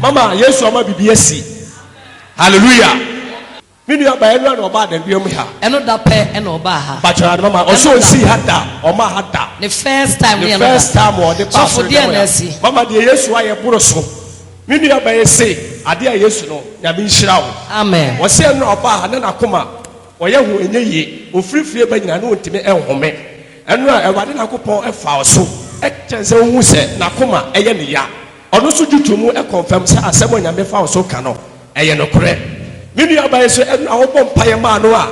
Mama Yesu ama biribi asi. Hallelujah. Me nua baa ɛno na ɔbaa danduam mu ha. Ɛno da pɛ na ɔbaa ha. Bakyɛ ade mama ɔsɛ ɔnsii ha da ɔma ha da. Ne first time ne ɛno da. Ne first time ɔde baa so deɛ na asi. Mama deɛ Yesu ayɛ boro so. Me nua baa ese adeɛ a Yesu no nyame nhyira wo. Amen. Ɔsɛ ɛno na ɔbaa ha na n'akoma ɔyɛ ho enye yie ofirifiri ba nyina na ɔntumi ɛnhome. Ɛno a Awurade Nyankopɔn ɛfaa ɔso ɛkyɛn sɛ ɔhu sɛ n'akoma ɛyɛ ne ya. Ɔno nso gye to mu kɔnfɛm sɛ asɛm a Onyame fa wo so ka no, ɛyɛ nokorɛ. Me nuabaa yi nso, ɛno na wobɔ mpaeɛ maa no a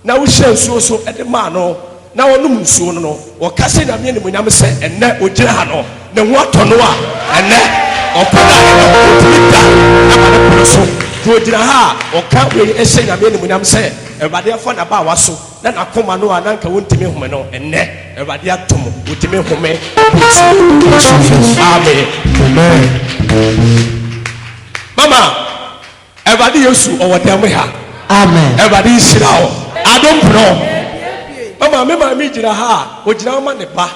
na wohyira nsuo so de maa no na ɔnom nsuo no no. Wɔka hyɛ Nyame animuonyam sɛ ɛnnɛ ɔgyina ha no, ne ho atɔ no a ɛnnɛ ɔko no a ɛnnɛ ɔntumi da ma ne pono so. Nti ɔgyina ha a ɔka wei hyɛ Nyame animuonyam sɛ Awurade afa n'abaawa so. Na n'akoma no a na anka wontumi nhome no, ɛnnɛ Awurade ato mu, wotumi home bere tiaa. Mama, Awurade Yesu ɔwɔ dan mu ha. Awurade nhyira wo. Adom Prɔ. Mama, me maame gyina ha a, ogyina hɔ ma ne ba.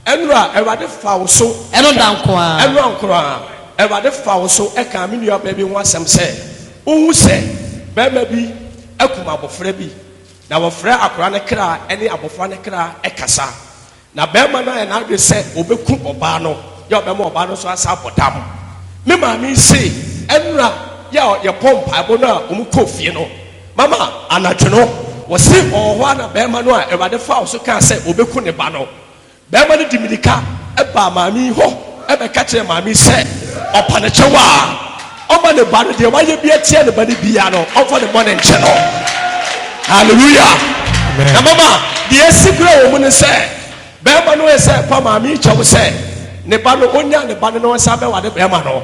Ɛno a Awurade fa wo so. Ɛno da nko ara. Ɛno da nko ara. Awurade fa wo so ka me nuabaa bi ho asɛm sɛ, wohu sɛ barima bi akum abofra bi. na wɔfrɛ akwadaa no kra ne abɔfra no kra kasa. Na barima no ayɛ n'adwene sɛ ɔbɛku ɔbaa no, yɛ a ɔbɛma ɔbaa no nso asan abɔ dam. Me maame yi se, Nnora, yɛ a yɛbɔɔ mpaebɔ no a wɔkɔɔ fie no, mama anadwo no, wɔse ɔwɔ hɔ ara na barima no a Awurade faa wo so kaa sɛ ɔbɛku ne ba no, Barima no de mirika baa maame yi hɔ bɛka kyerɛɛ maame yi sɛ ɔpa ne kyɛw a ɔmma ne ba no, deɛ wayɛ bi atia ne ba no biara no, ɔmfa ne bɔne nkyɛ no. Hallelujah! Na mama, deɛ asi koraa wɔ mu ne sɛ, barima no yɛ sɛ ɛpa maame yi kyɛw sɛ ne ba no, ɔnnya ne ba no na ɔnsan bɛware barima no.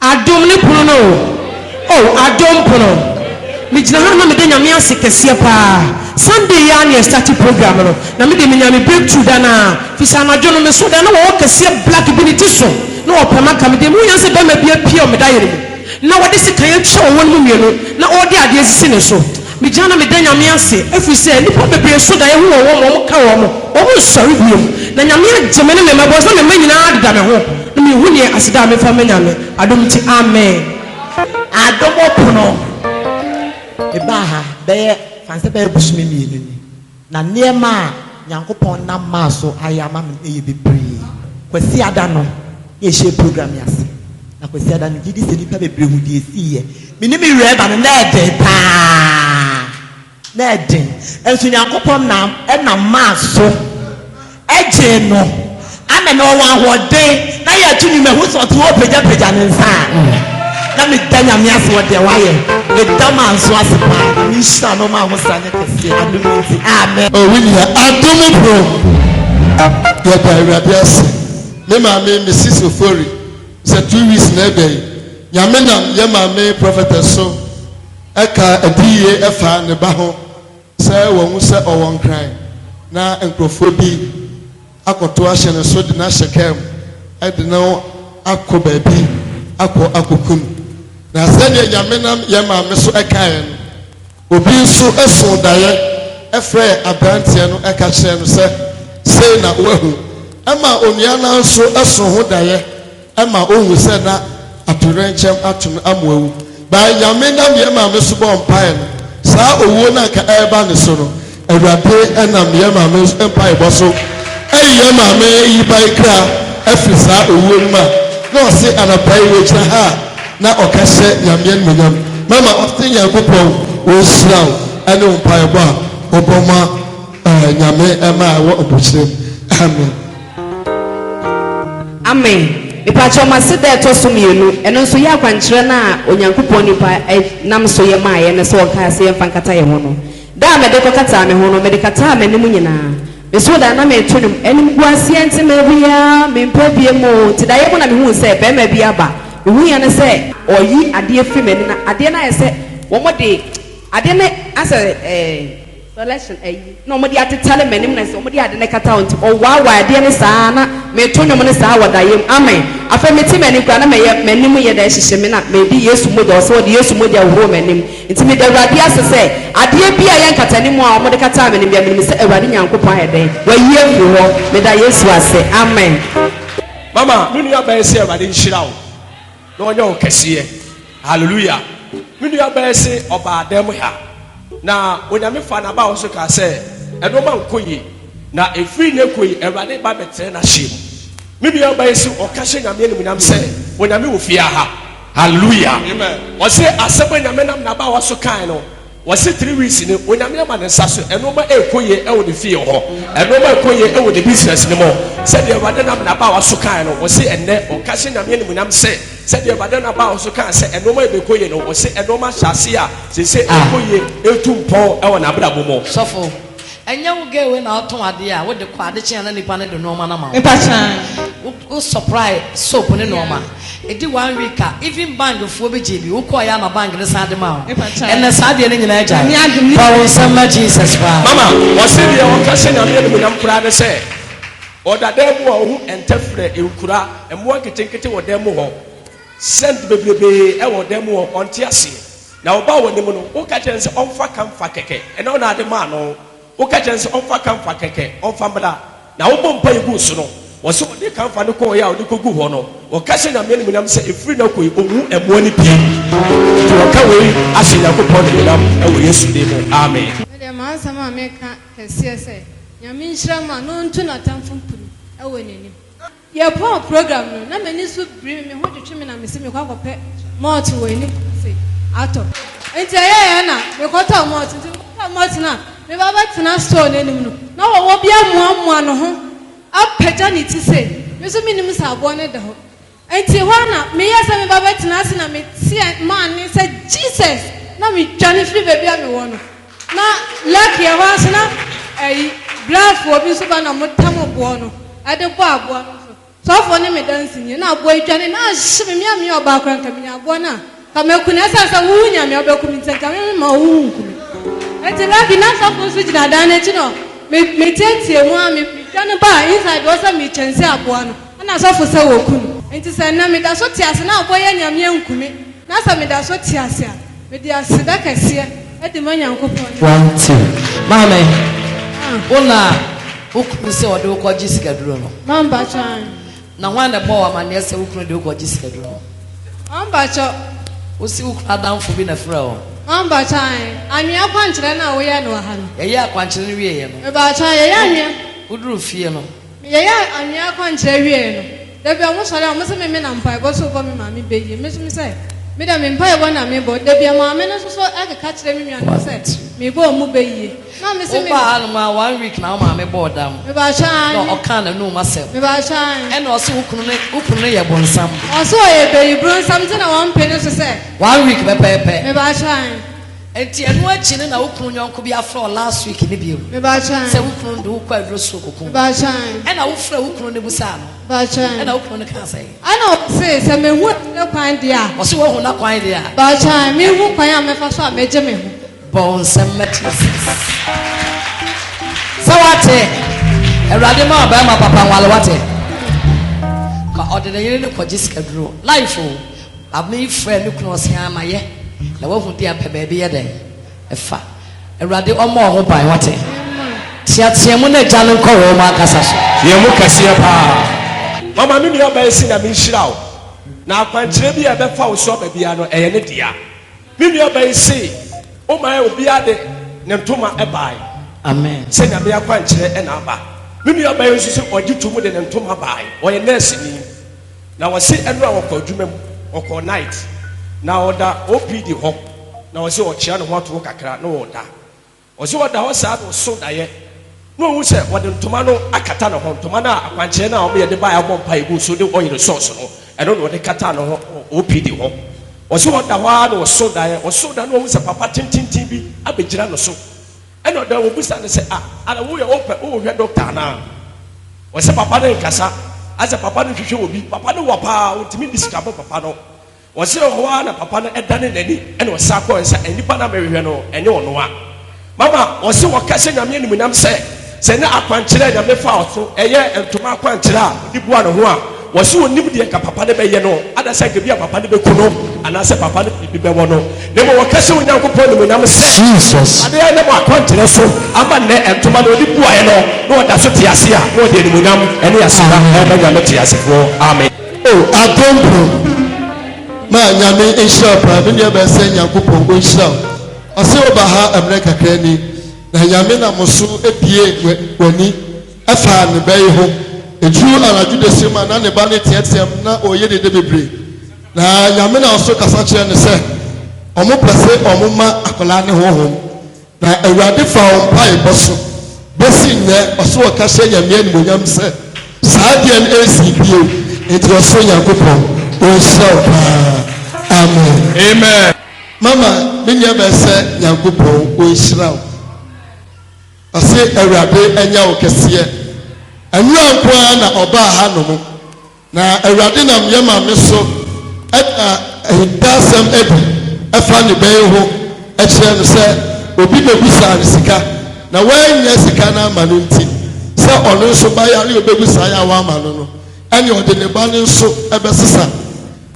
Adom ne pono no o, oh adom pono Me gyina ha na meda Nyame ase kɛseɛ paa Sunday yi ara na yɛ start program no Na me deɛ menya me breakthrough da no ara Firi sɛ anadwo no me sɔre a na wɔwɔ kɛseɛ black bi ne ti so na ɔpɛ maka Me deɛ mehu yɛ sɛ bɛrima bi apue wɔ me dayere mu na wɔde sekan atwa wɔn mu mmienu na ɔrede adeɛ asisi ne so Megyina na meda Nyame ase ɛfiri sɛ nnipa bebree so daeɛ ho wɔ wɔn ma wɔn ka wɔn, wɔn nsɔre bio, na Nyame agye me ne me mma ɛwɔ sɛ me mma nyinaa deda me ho, na me nhu neɛ aseda a me mfa mma Nyame, adom nti Amen. Adom pono, me baa ha bɛyɛ, fa nsɛ bɛyɛ bosome mmienu ni. Na nneɛma a Nyankopɔn nam maa so ayɛ ama me no yɛ bebree. Kwasiada no na yɛhyɛɛ program yi ase, na Kwasiada no megye di sɛ nnipa bebree hu deɛ ɛsiiɛ. Me ne me werɛ ba no, na ɛden paa. Na ɛden. Nanso Nyankopɔn nam, nam maa so. gyee no ana na ɔwɔ ahoɔden na yɛ tumi mahu sɛ ɔte hɔ pagyapagya ne nsa a na meda nyame ase wɔ deɛ wayɛ meda maa nso ase paa na menhyira no ma ho sra nyɛ kɛseɛ adom nti amen o wo nua adom bro yɛda awurade ase me maame mrs ofori sɛ two weeks na ɛbɛ yi nyame nam yɛ maame prophetess so ɛka adiyie ɛfa ne ba ho Sɛ wahu sɛ ɔwɔ nkran na nkurɔfoɔ bi akɔto ahyɛ ne so de no ahyɛ kaa mu de no akɔ baabi akɔ akɔku no. Na sɛdeɛ Nyame nam yɛn maame so kaeɛ no, obi nso soo daeɛ frɛɛ aberanteɛ no ka kyerɛɛ no sɛ, Sei na woahu. Ɛmaa onua no ara nso soo ho daeɛ. ɛma ohu sɛ na atoyerɛnkyɛm ato no ama wawu. By Nyame nam yɛn maame so bɔɔ mpaeɛ no, saa owuo no a anka ɛreba ne so no, Awurade nam yɛn maame mpaebɔ so ayi yɛn maame Yibae kra afiri saa owuo no mu a na ɔse anapa yi wagyina ha a na ɔka hyɛ Nyame animuonyam. Mama, ɔse Nyankopɔn ɔnhyira wo ɛne wo mpaebɔ a wobɔ ma Nyame mmaa a ɛwɔ abokyerɛ mu. Amen. Amen. Mepakyɛw mase da ɛtɔ so mmienu, ɛno nso yɛ akwankyerɛ no a Onyankopɔn nipa nam so yɛ maeɛ no sɛ ɔnkae sɛ yɛmfa nkata yɛn ho no. Da a mede kɔkataa me ho no, mede kataa m'anim nyinaa. Mesoo da a na mereto nnwom, Animguaseɛ nti mawia, mempɛ bio mu oo, nti daeɛ mu na mehuu sɛ barima bi aba. Mehuiɛ ne sɛ ɔreyi adeɛ firi m'ani na adeɛ no ayɛ sɛ wɔde adeɛ no asɛ eh, Selection ayi na ɔmo de atetare m'anim na sɛ ɔmo de ade no kata hɔ nti ɔwaawaa adeɛ no saa ara na meeto nnwom no saa wɔ daeɛ mu amen afei mete m'anim koraa na mɛyɛ m'anim yɛ dɛ ɛhyehye me na medi Yesu mogya wɔ sɛ wɔde Yesu mogya hohoro m'anim nti meda Awurade ase sɛ adeɛ bi a ɛyɛ nkatanimu a ɔmo de kataa m'anim bia menim sɛ Awurade Nyankopɔn ayɛ dɛn wayi afiri hɔ meda Yesu ase amen. Mama me nua bɛn sɛ Awurade nhyira wo. Na ɔnyɛ wo kɛseɛ. Hallelujah. Me nua bɛɛ se ɔbaa dan mu ha. Na Onyame faa n'aba hɔ so kaa sɛ, Nnoɔma nkɔ yie. Na ɛfiri nnɛ kɔ yi, Awurade ba bɛtrɛ n'ahyeɛ mu. Me nua baa yi se ɔka hyɛ Nyame animuonyam sɛ, Onyame wɔ fie aha. Hallelujah. Ɔse asɛm a Nyame nam n'abaawa so kaaɛ no, Wɔse three weeks ni Onyame ama ne nsa so Ɛnoɔma ɛɛkɔ yie ɛwɔ ne fie hɔ Ɛnoɔma ɛɛkɔ yie ɛwɔ ne business no mu Sɛdeɛ Awurade nam n'abaawa so kaaɛ no Wɔse ɛnnɛ ɔka hyɛ Nyame animuonyam se Sɛdeɛ Awurade nam n'abaawa so kaa sɛ ɛnoɔma yi bɛɛkɔ yie no Wɔse ɛnoɔma ahyɛ aseɛ a seisei ɛɛkɔ yie Ɛɛtu mpɔn ɛwɔ n'abrabɔ mu. Sɔfo, ɛnyɛ wo girl wei na ɔtɔn adeɛ a wode kɔ adekye a na nipa no de nnoɔma no ama wo. Mpakyɛw. Wo supply soap ne nnoɔma. Ɛdi one week a even bang foɔ bi gyee bi. Wo kɔɔeɛ ama bang no san de maa wo. Ɛnɛ saa adeɛ no nyinaa agyae. Boa wo nsam ma Jesus paa. Mama ɔse deɛ ɔka hyɛ Nyame animuonyam koraa ne sɛ ɔda dan mu a ɔhu ntɛfrɛ, nkura, mmoa nketenkete wɔ dan mu hɔ, scent bebrebee wɔ dan mu hɔ, ɔnte aseɛ. Na ɔbaa w'anim no, woka kyerɛɛ no sɛ ɔmfa camphor kɛkɛ, ɛnɛ wo na ade maa no. Woka kyerɛ no sɛ ɔmfa kamfa kɛkɛ ɔmfa mmra, na wobɔ mpae gu so no, wɔse ɔde kamfa no kɔɔeɛ a ɔde kɔguu hɔ no, ɔka hyɛ Nyame animuonyam sɛ ɛfiri nnɛ kɔ yi ɔnwu mmoa no bio. Nti wɔka wei ahyɛ Nyankopɔn animuonyam wɔ Yesu din mu, amen. Me deɛ m'asɛm a meka kɛseɛ sɛ, Nyame nhyira mo a na ɔntu n'atamfo mpiri wɔ n'anim. Yɛpɔn program no, na m'ani so biri me, me ho twetwe me na mese mekɔ akɔpɛ malt wɔ anim se atɔ. Enti ɛyɛeɛ na mekɔtɔɔ malt, nti mekɔtɔɔ malt no a meba bɛtena store no anim no, na wɔwɔ bi amoamoa ne ho apagya ne ti sei, me nso mennim sɛ aboɔ no da hɔ. Enti hɔ ara na meyɛɛ sɛ meba bɛtena ase na meteɛ maa nne sɛ Jesus! Na medwane firi baabi a mewɔ no. Na lake yɛ hɔ ara nso na ɛyi brɛfoɔ bi nso ba na ɔmo tam boɔ no ɛde bɔ aboa no nso sɔfoɔ ne me dansi nie na aboa yi dwane na ahye me mea meyɛ ɔbaa koraa nka menya aboa no a nka mɛku no ɛsan sɛ wuu nyame a wobɛku me nti nka me mema ɔwu wu nku me nti lake na sɔfoɔ nso gyina dan no akyi no me me tietie mu a me me dwane ba a inside wɔ sɛ me kyɛn sɛ aboa no ɛna sɔfo sɛ wɔku no nti sɛ nnɛ me da so te ase na aboa yi anyame anku me na sɛ me da so te ase a Mede aseda kɛseɛ de ma Nyankopɔn ne. Wantew. Maame, wo na wo kunu sɛ ɔde wo kɔgye sikaduro no? Mambakyɔ, aane. Na hwan na ɛbɔɔ wo amanneɛ sɛ wo kunu de wo kɔgye sikaduro no? Mambakyɔ. Wose wo kunu adamfo bi na ɛfrɛɛ wo? Mambakyɔ, aane. Anwea akwankyerɛ no a woyɛɛ no wɔ ha no. Yɛyɛɛ akwankyerɛ no wieeɛ no. Mebaakyɔ, aane. Yɛyɛ anwea. Woduruu fie no. Yɛyɛɛ anwea akwankyerɛ wiei no, da bi a wɔsɔre a wɔse memmena mpaebɔ so bɔ me maame bɛ yie. Me nso mesɛ, me deɛ me mpaebɔ na mebɔ. Da bi a maame no nso so keka kyerɛ me nuanom sɛ mebɔ wɔn bɛ yie. Na mese me. Wobaa hanom a one week na wo maame bɔɔ dam. Mebaakyɛ aane. Na ɔkaa n'anum asɛm. Mebaakyɛ aane. Ɛna ɔse wo kunu ne, wo kunu ne yɛ bonsam. Ɔse ɔyɛ bayi bronsam nti na wɔmpe ne so sɛ. One week pɛpɛɛpɛ. Mebaakyɛ aane. Nti ɛno akyi no na wo kunu yɔnko bi afrɛ wo last week no bio sɛ wo kunu no de wo kɔ aduro soro koko ɛna wo frɛ wo kunu no busaa no ɛna wo kunu no kaa sɛ. Ɛna ɔse sɛ mehu akyire kwan deɛ a. Ɔse wahu na kwan deɛ a. Baakyan mehu kwan a mɛfa so a mɛgye me ho. Bɔ wo nsɛm mɛte aseɛ sɛ wate awurade ma ɔbɛrima papa nwale wate ka ɔde ne yere no kɔgye sikaduro life o Abner frɛɛ ne kunu ɔse aa ma yɛ na wahu deɛ pɛ baabi yɛ dɛn fa awurade ɔmɔ ɔho ban wate teateamu na gya no nkɔ wɔn ankasa so. Teamu kɛseɛ paa mama me nua baa si nyame nhyira wo na akwankyerɛ bi a ɛbɛfa wo so aba biara no ɛyɛ ne dea. Me nua ba yi see wo mae obiara de ne ntoma bae Amen. sɛ Nyame akwankyerɛ na aba. Me nua ba yi nso se ɔgye to mu de ne ntoma bae. Ɔyɛ nurse ni na ɔse ɛno a ɔkɔ adwuma mu, ɔkɔ night na ɔda OPD hɔ na ɔse ɔkyea ne ho ato hɔ kakra na ɔda. Ɔse ɔda hɔ saa na ɔso daeɛ na ɔhu sɛ ɔde ntoma no akata ne ho, ntoma no a akwankyerɛ no a wɔyɛ de baeɛ abɔ mpaeɛ gu so de oil sɔɔso no, ɛno na ɔde kataa ne ho wɔ OPD hɔ. Ɔse ɔda hɔ ara na ɔso daeɛ, ɔso daeɛ na ɔhu sɛ papa tententen bi abɛgyina ne so ɛna ɔda hɔ, ɔbisa no sɛ, ah, ara woyɛ wopɛ wohwɛ doctor anaa? Ɔse papa no nkasa, asɛ papa no nhwehwɛ obi, papa no wɔ paa, ɔntumi nni sika bɔ papa no. Wɔseree hɔ ara na papa no danee n'ani na ɔsan kɔe. Ɔse, Nnipa no a merehwɛ no, ɛnyɛ ɔno a. Mama, ɔse, wɔka hyɛ Nyame animuonyam sɛ, sɛ ne akwankyerɛ a Nyame faa ɔso, ɛyɛ ntoma akwankyerɛ a ɔde bua ne ho a, ɔse ɔnnim deɛ nka papa no bɛyɛ no, ada sɛ nka ebia papa no bɛku no, anaasɛ papa no biribi bɛwɔ no. Na mmom wɔka hyɛ Onyankopɔn animuonyam sɛ, Jesus. Ade a ɛnam akwankyerɛ so ama nnɛ ntoma no ɔde buaeɛ no, na ɔda so te ase a, na ɔde animuonyam ne aseda rema Nyame teasefoɔ. Amen. O adomfo, ma Nyame nhyira wo paa. Me nua bɛn sɛ Nyankopɔn onhyira wo. Ɔse woba ha mmerɛ kakra ni na Nyame nam wo so abie w'ani afa ne bɛ yi ho. Ɛduru anadwo dasuom a na ne ba no teateam na ɔreyɛ dede bebree. Na Nyame nam so kasa kyerɛ no sɛ ɔmo pɛ se ɔmo ma akwadaa no honhom. Na Awurade faa wɔn mpaebɔ so besi nnɛ, ɔsoro ɔkasa nya me animuonyam sɛ saa adeɛ no ɛnsii bio, enti ɔsoro Nyankopɔn ɔnhyira wo paa. Amen. Amen. Mama me nua bɛɛ sɛ Nyankopɔn ɔnhyira wo. Ɔse Awurade anya wo kɛseɛ. Ɛno ara nko ara na ɔbaa ha nom. Na Awurade nam yɛn maame so da ahintasɛm adi ɛfa ne bɛyi ho ɛkyerɛ no sɛ obi bɛbusaa no sika na wanyɛ sika no ama no nti sɛ ɔno nso ba yare obɛgu saa yɛ a wama no no ɛne ɔde ne ba no nso ɛbɛsesa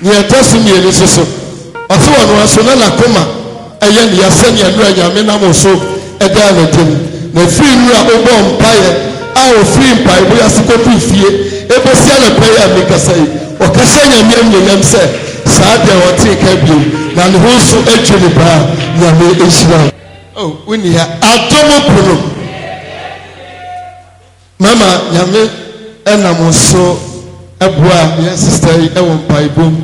Nea ɛtɔ so mmienu nso so, ɔse ɔno ara nso na n'akoma yɛ no ya sɛnea Nwura Nyame nam wo so daa no adi no. Na ɛfiri mmerɛ a wobɔɔ mpaeɛ a ɔfirii mpaebɔ yi ase kɔduru fie bɛsi anɔpa yi a merekasa yi, ɔka hyɛ Nyame animuonyam sɛ saa da yi ɔntee nka bio na ne ho nso dwo no paa. Nyame nhyira wo. Oh, wonni ha. Adom pono. Mama Nyame nam wo so boa yɛn sista yi wɔ mpaebɔ mu.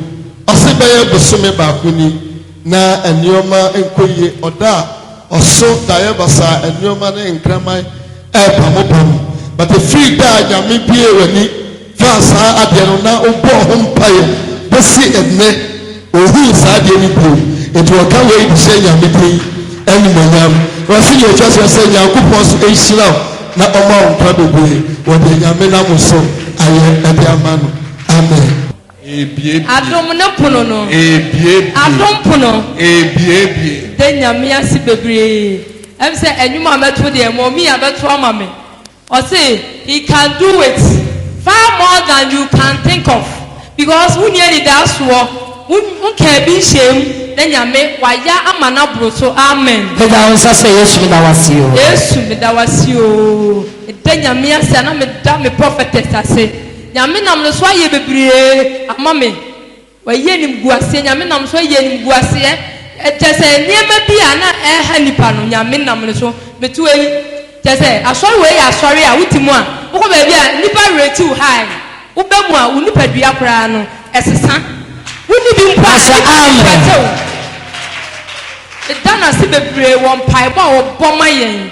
Ɔse bɛyɛ bosome baako ni na nnoɔma nkɔ yie. Ɔda a ɔso daeɛ basaa, nnoɔma ne nkraman ɛɛpamo pamo. But ɛfiri da a Nyame bue w'ani faa saa adeɛ no na ɔbɔɔ ho mpaeɛ bɛsi ɛnnɛ, ɔnhuu saa adeɛ no bio, enti ɔka wei de hyɛ Nyame din animuonyam. Ɔse deɛ ɛtwa soɔ sɛ Nyankopɔn nso nhyira wo na ɔma wo nkwa bebree wɔ deɛ Nyame nam wo so ayɛ de ama no. Amen. Adom no pono no. Adom pono. Meda Nyame ase bebree. Ɛm sɛ ɛnwom a mɛto deɛ mɔmii abɛto ama me. Ɔse he can do it far more than you can think of because wonni anidasoɔ wo nkaa bi nhyɛɛ mu na Nyame wayɛ ama no aboro so amen. Pagya wo nsa sɛ Yesu meda wo ase oo. Yesu meda wo ase oo. Meda Nyame ase na meda me prophetess ase. Nyame nam no so ayɛ bebree ama me. Wɔayi animguaseɛ, Nyame nam so ayi animguaseɛ, kyerɛ sɛ nneɛma bi a na ɛreha nnipa no, Nyame nam no so betu ayi. Kyerɛ sɛ, asɔre wei yɛ asɔre a wote mu a, wokɔ baabi a nnipa werɛ ti wo high, woba mu a wo nipadua koraa no ɛsesa, wonni bi mpo a nnipa ani pɛtɛ wo. Meda no ase bebree wɔ mpaebɔ a wɔbɔ ma yɛn.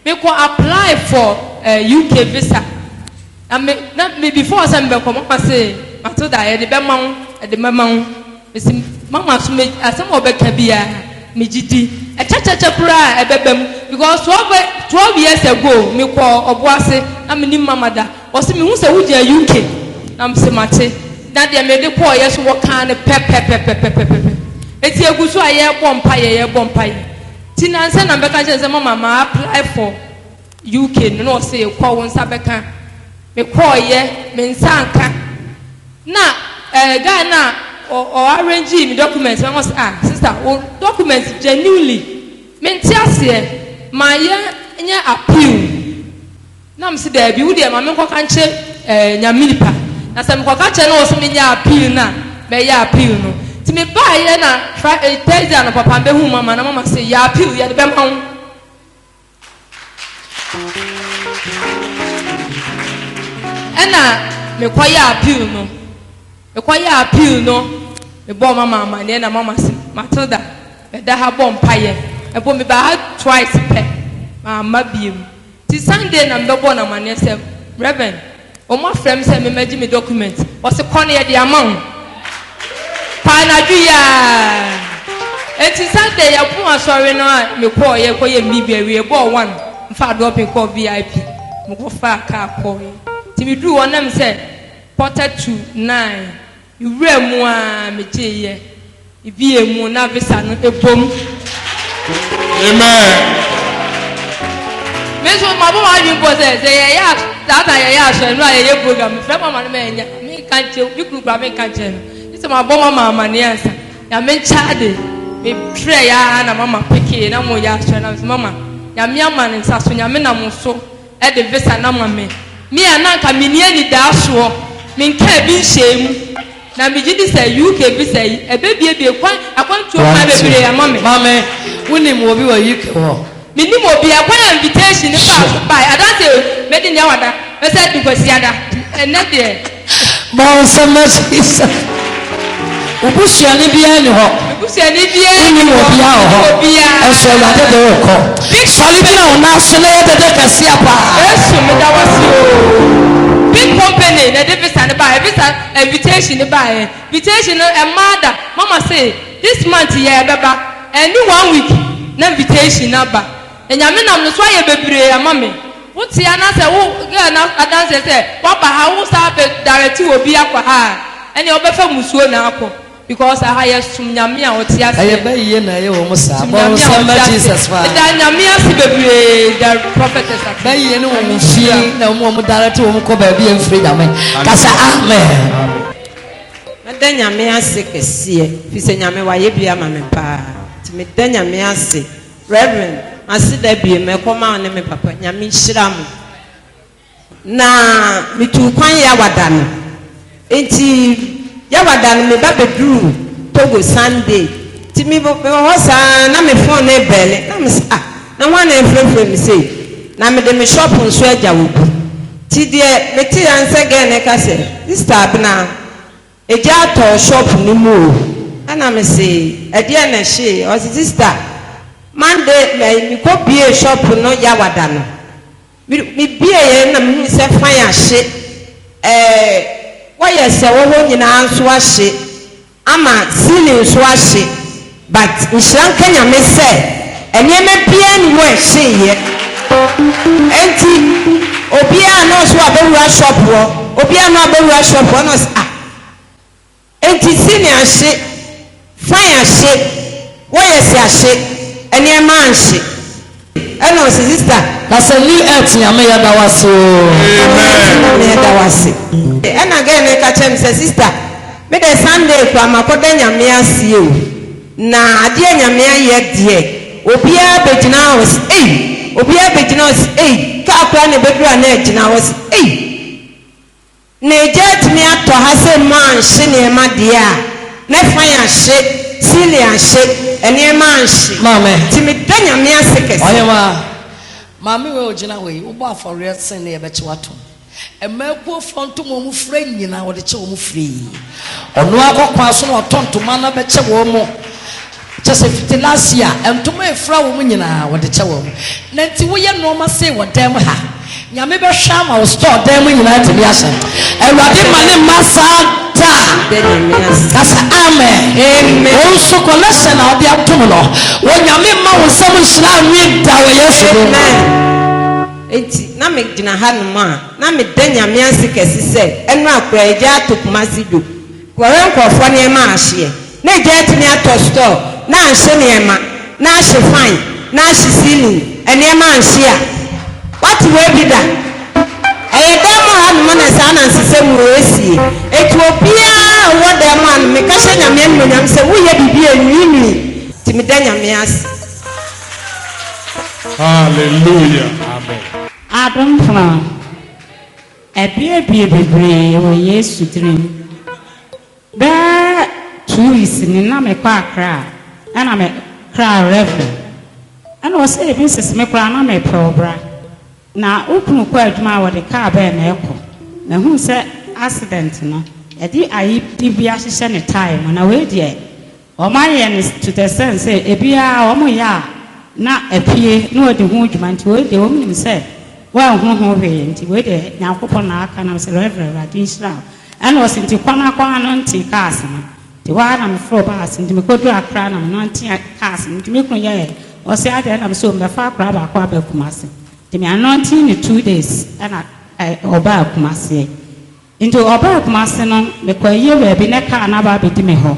Me kɔ apply for eh UK visa na me na me before sɛ me bɛ kɔ mama se Matilda yɛde bɛ ma wo yɛde bɛ ma wo me se mama so me asɛm a ɔbɛ ka bia me gye di ɛkyɛkyɛkyɛ koraa a ɛbɛ bɛ mu because twelve twelve years ago me kɔ ɔbo ase na me nim mama da ɔse me hu sɛ wo gyina UK na me se mate na deɛ me de kɔɔ yɛ so wɔ kaa no pɛpɛpɛpɛpɛpɛpɛ eti egu so a yɛ bɔ mpa yɛ yɛ bɔ mpa yɛ. Nti nnansa na mebɛka kyerɛ no sɛ mama ma apply for UK no na ɔse kɔ wo nsa bɛka. Me kɔɔyɛ me nsa anka na eh guy no a ɔ ɔ arrangee me documents no ɔse ah sister wo documents genuinely mente aseɛ ma yɛ nyɛ appeal. Na mese daabi wo deɛ ma me nkɔka nkyerɛ eh, nyame nipa na sɛ mekɔka kyerɛ no wɔ sɛ menyɛ appeal no a mɛyɛ appeal no nti mebaeɛ na fri eh, thursday anɔpapa mbɛhu mama na mama se yɛ appeal yɛde bɛma wo ɛna mekɔyɛ appeal no mekɔyɛ appeal no mebɔɔ mama amaneɛ na mama se matilda mɛda ha bɔ mpayɛ ɛbɔ mebaa ha twice pɛ maama biem Nti Sunday na mebɛbɔɔ no amaneɛ sɛ, Rev. Wɔn afrɛ me sɛ memmɛgye me document. Ɔse, Kɔ na yɛde ama wo. Paa anadwo yi aa. Nti Sunday yɛpoo asɔre no a mekɔɔ yɛ kɔyɛ me biribi awie bɔɔ one mfaa dɔɔpen kɔɔ VIP. Mekɔfaa car kɔɔɛ. Nti meduruu hɔ na mese quarter to nine. Mewura mu aa megyee yɛ ibi yɛ mu na visa no ɛbom. Amen. Me nso mabɔ m'adwene bɔ sɛ sɛ yɛyɛ a saa ta yɛyɛ asɔre no a yɛyɛ program mefrɛ mama no ma ɛnyɛ menka nkyerɛ me kunu kora menka nkyerɛ no gye sɛ mabɔ mama amanneɛ ansa nyame nkyɛ ade mefrɛ yɛ a na mama pekee na moyɛ asɔre na mesɛ mama nyame ama ne nsa so nyame nam so de visa no ama me. Me a na anka menni anidasoɔ, menkaa bi nhyɛɛ mu. Na megye di sɛ UK visa yi, ɛbɛbuebue kwan, akwantuo kwan bebree ama me. Maame, wonim obi wɔ UK hɔ? Mennim obiara, kwan a invitation no faa so baeɛ, adanseɛ o, mɛdi nea wada, mɛsan adi Kwasiada, ɛnnɛ deɛ. Bɔ nsɛm na si sɛ wo busuani biara nni hɔ. Wonni wɔ bia wɔ hɔ. Nso Awurade de wo kɔ. Sɔre gyina wo nan so na yɛ dede kɛseɛ paa. Yesu meda wase oo. Big company na ɛde visa no baeɛ visa invitation no baeɛ invitation no ɛmaa da mama se this month yɛ ɛbɛba ɛni one week na invitation no aba Nyame nam no so ayɛ bebree ama me. Wo te anasɛ wo yɛ na adanseɛ sɛ wa ba ha wo saa bɛ direct obi akɔ ha a ɛneɛ wo bɛfa musuo na akɔ because aha yɛ som Nyame a ɔte aseɛ. Ɛyɛ bɛ yie na ɛyɛ wɔn saa. Som Bɔ Nyame a nsɛm ɔte ma aseɛ. Jesus paa. Meda Nyame ase bebree da prophetess ase. Bɛ yie ne wɔn fie Nhyira. na wɔn a wɔn direct wɔn kɔ baabi a ɛnfiri Nyame. Kasa amen. Mɛda Nyame ase kɛseɛ fisɛ Nyame wayɛ bi ama me paa nti meda Nyame ase Rev. Aseda biem mɛkɔma wo ne me papa. Nyame nhyira mo. Na metuu kwan Yawada no. Nti Yawada no me ba bɛduruu Togo Sunday. Nti me wɔ hɔ saa na me phone no rebelle. Na me se ah na hwan na ɛrefrɛfrɛ me sei. Na mede me shop nso agya obi. Nti deɛ meteeɛ ara ne sɛ girl no reka sɛ, Sister Abena. Egya tɔɔ shop no mu o. Ɛna me se, ɛdeɛn na ɛhyeeɛ? Ɔse, sister, Monday ɛyi, me kɔ biee shop no Yawada no. Me, me bieeɛ no na me hunu sɛ fan ahye, ɛɛ, wires a ɛwɔ hɔ nyinaa nso ahye, ama ceiling nso ahye. But nhyira nka Nyame sɛ nneɛma biaa nni hɔ a ɛhyeeɛ. Ɛnti obiaa na ɔse wabɛwura shop hɔ, obiaa na wabɛwura shop hɔ, na ɔse ah, ɛnti cine ahye, fine ahye, wɔyɛse ahye, nneɛma anhye. Ɛna ɔsi sista. Kasa new earth nyame yɛ da wase oo. Amen nyame yɛ da wase. Ɛna gɛɛ no ka kyerɛ me sɛ sista me dɛ Sunday koraa makɔ da nyame aseɛ oo na adeɛ nyame ayɛ deɛ obiaa bɛgyina hɔ ɔsi ei obiaa bɛgyina hɔ ɔsi ei car koraa na ɛbɛduru a na agyina hɔ ɔsi ei. Na egya atumi atɔ ha sɛ mma anhye nneɛma deɛ a, na fan ahye, ceiling ahye, nneɛma anhye. Maame. Nti meda Nyame ase kɛse. Ɔhemaa, maame wei a ɔgyina hɔ yi, wobɔ afɔreɛ sen ne yɛbɛkye wo atom. Mma akuofoɔ nto wɔn mu frɛ nyina wɔde kye wɔn firi. Ɔno ara kɔ kwan so na ɔtɔ ntoma na bɛkyɛ wɔn. Kyɛ sɛ fitilaasi a ntoma efura wom nyinaa wɔde kyɛ wɔn. Na nti woyɛ nnoɔma sei wɔ dan mu ha. Nyame bɛhwɛ ama wo store dan mu nyinaa atumi ahyɛ. Awurade mma ne mma saa da. Ka sɛ Amen. Wo nso collection a ɔde atom no, Onyame mma wo nsam nhyira nwe da wɔ Yesu din mu. Enti na me gyina hanom a, na meda Nyame ase kɛse sɛ, ɛno a koraa agya ato Kumasi dwom. Wɔwɛ nkorɔfoɔ nneɛma ahyeɛ na egya atumi atɔ store na anhye nneɛma na ahye fan na ahye ceiling nneɛma anhye a. Wate wei bi da? Ɛyɛ dan mu ha nom na saa na nsesɛm wei ɛsie. Enti obiara a ɔwɔ dan mu ha nom meka hyɛ Nyame animuonyam sɛ wo yɛ biribi a ɛnwiinwii nti meda Nyame ase. Hallelujah. Amen. Adom Fran. Abiabia bebree wɔ Yesu tirim. Bɛyɛ two weeks ni na me kɔ Accra ɛna me kra refi ɛna ɔsɛ ebi nsese me koraa na me pɛ ɔbra na wo kunu kɔ adwuma a wɔde car bɛn na ɛkɔ na hu sɛ accident no yɛde ayi de bi ahyehyɛ ne tae mu na wei deɛ Wɔayɛ no to the extent sɛ ebiaa wɔyɛ a na apue na wɔdi ho dwuma nti wei deɛ wɔnim sɛ wɔanhunu ho hwee nti wei deɛ Nyankopɔn na aka na mesrɛ Rev. Awurade nhyira wo. Ɛna ɔse nti kɔ na kɔ ano nte cars no nti hɔ ara na meforo baa ase nti mekɔduru Accra na menante cars no nti me kunu yɛɛ ɔse adɛn na mesɛ o mɛfa akwadaa baako aba Kumasi nti meanante no two days ɛna ɔbaa Kumasie. Nti ɔbaa Kumase no mekɔ ayie baabi na car no aba abɛdi me hɔ.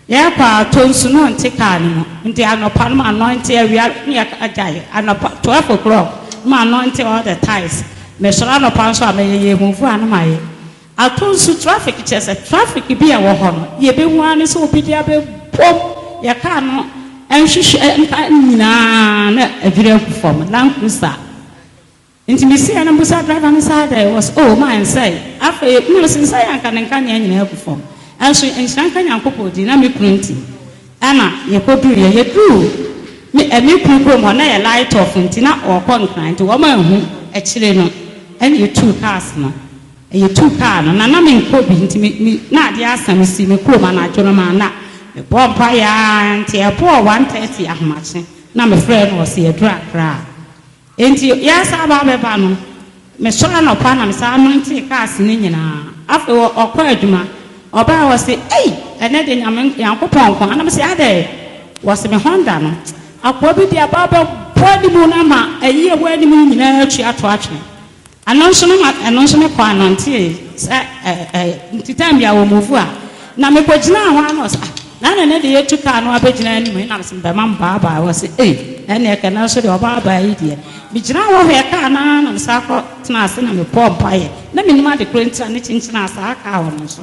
Yɛkɔ a atɔ nsu na ɔnte car no mu. Nti anɔpa no m'anɔinte awia no yɛ agyae anɔpa twelve o'clock na m'anɔinte all the tiles. Mesɔre anɔpa nso a mɛyɛ yɛ move a na mayɛ. Atɔ nsu traffic kyerɛ sɛ traffic bi a ɛwɔ hɔ no yɛbɛhu ara ne sɛ obi de abɛbom yɛ car no nhwehwɛ nka nyinaa na adwiri agu fam. Land cruiser. Nti me siee no mbusa driver no saa dɛ was oh maa nsɛe afei na ɔse nsɛe a nka ne nkanea nyinaa agu fam nso nhyira nka Nyankopɔn din na me kunu nti ɛna yɛkɔduruiɛ yɛduruu me eh me kunu kurom hɔ na ɛyɛ light off nti na ɔɔkɔ Nkran nti wɔn anhu akyire no ɛna yɛtuu cars no eh yɛtuu car no na na me nkɔ bi nti me me na adeɛ asa me sii me kurom anadwo no maa na me bɔɔ mpaeɛ aa nti ɛbɔɔ one thirty ahomakye na me frɛɛ no ɔse yɛduru Accra. Enti yɛsan aba abɛba no, mesɔre anɔpa na mesan nantee cars no nyinaa. Afei ɔkɔɔ adwuma, ɔbae a ɔse, Ei! Ɛnnɛ deɛ Nyame, Nyankopɔn nko ara. Na mese, Adɛn? Ɔse, Me Honda no, akoa bi de aba abɛbɔ anim no ama ayi a ɛwɔ anim no nyinaa atu ato atwene. Ɛno nso no ma ɛno nso mekɔ anantee sɛ ɛɛ nti time bi a wɔ move a na mekɔ gyinaa hɔ ara na ɔsɛ ah na nene deɛ yɛtu kaa no abɛgyina anim he na mesɛ mebɛma me baabaa wɔ se ei ɛneɛ kɛ nanso deɛ ɔbaabaa yi deɛ megyinaa hɔ hwɛɛ kaa no ara na mesan kɔ tenaa ase na mebɔɔ mpaeɛ na menim ade korɔ nti a ne kyenkyene a saa kaa hɔ no nso